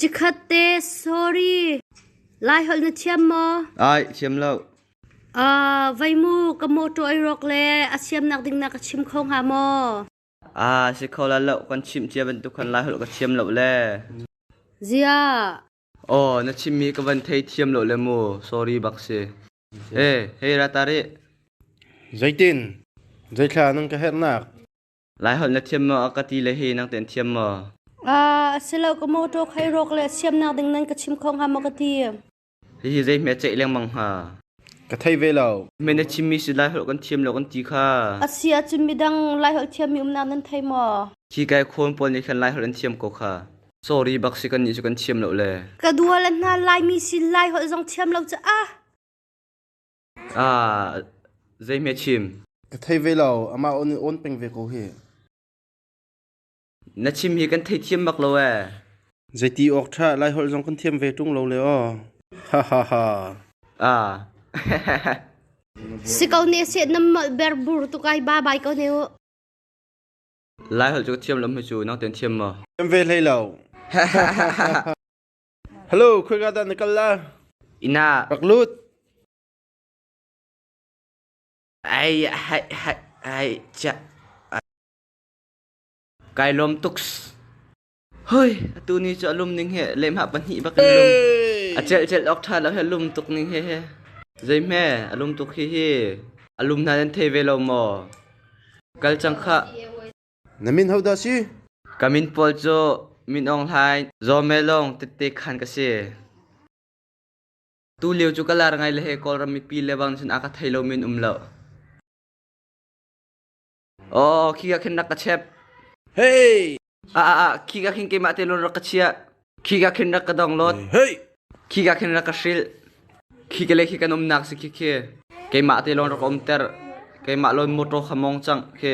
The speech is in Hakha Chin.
Cikhat te sorry, Lai holh na thiam maw? Ai, thiam lo. Vai mu ka mawṭaw ei rawk le a siamnak ding na ka chim kho hnga maw? Si kho la lo, kan chimh cia bantuk khan Lai holh ka thiam lo le. Zia. Aw, na chimmi ka van thei thiam lo le mu. Sorry bak si. Hei, Ratari. Zeitin? Zeithla nang ka herhnak? Lai holh na thiam maw a ka ti le hi nang ten thiam maw? A si lo ka mawtaw khai rawk le siam nak ding nan ka chim kho hnga maw ka ti. Hihi zei hme ceih lengmang hnga? Ka thei ve lo. Me na chimmi si Lai holh kan thiam lo kan ti kha. A si a chim midang Lai holh thiam mi um nak nan thei maw? Khi kai khawn pawl nih khan Lai holh an thiam ko kha. Sorry bak si kan nih cu kan thiam lo le. Ka dual an hna Lai mi sin Lai holh zong thiam lo ca ah. Zeihme a chim? Ka thei ve lo. Amah awn peng ve ko hi. Na chim hi kan theithiam bak lo ee. Zeiti awk ṭha Lai holh zong kan thiam ve ṭung lo le aw. Ha ha ha. A. Si ko ne se nam mal ber bur tu kai ba bai ko ne u. Lai holh cu thiam lam hi cu nang ten thiam maw? Thiam ve hlei lo. Halo, khoika dah na kal la? Inn ah rak lut. Ai hai hai ai chia. Kai lom tuk. Hoi, atu ni chu alum ning he lemha pahnih bak kan lum. Acel cel ok tha lo he lum tuk ning he he. Zai me alum tuk hi hi alum na nan thei ve lo maw? Kal chang kha Na min ho dah si? Ka min pawl cu Min Aung Hlaing, Zaw Meh Lawng tette khan ka si. Tu lio cu ka lar ngai le he Kawlram mipi lebang cun a ka thei lo min um lo. Oh, khi ka khin rak ka chep. Hey! A a a, khi ka khin keimah te lon rak ka chia. Khi ka khin rak ka dong lot. Hey! Khi ka khin rak ka hril. Khi ka le khi kan um nak si khi khi. Keimah te lon rak om ter. Keimah lon motor khamong chang khi.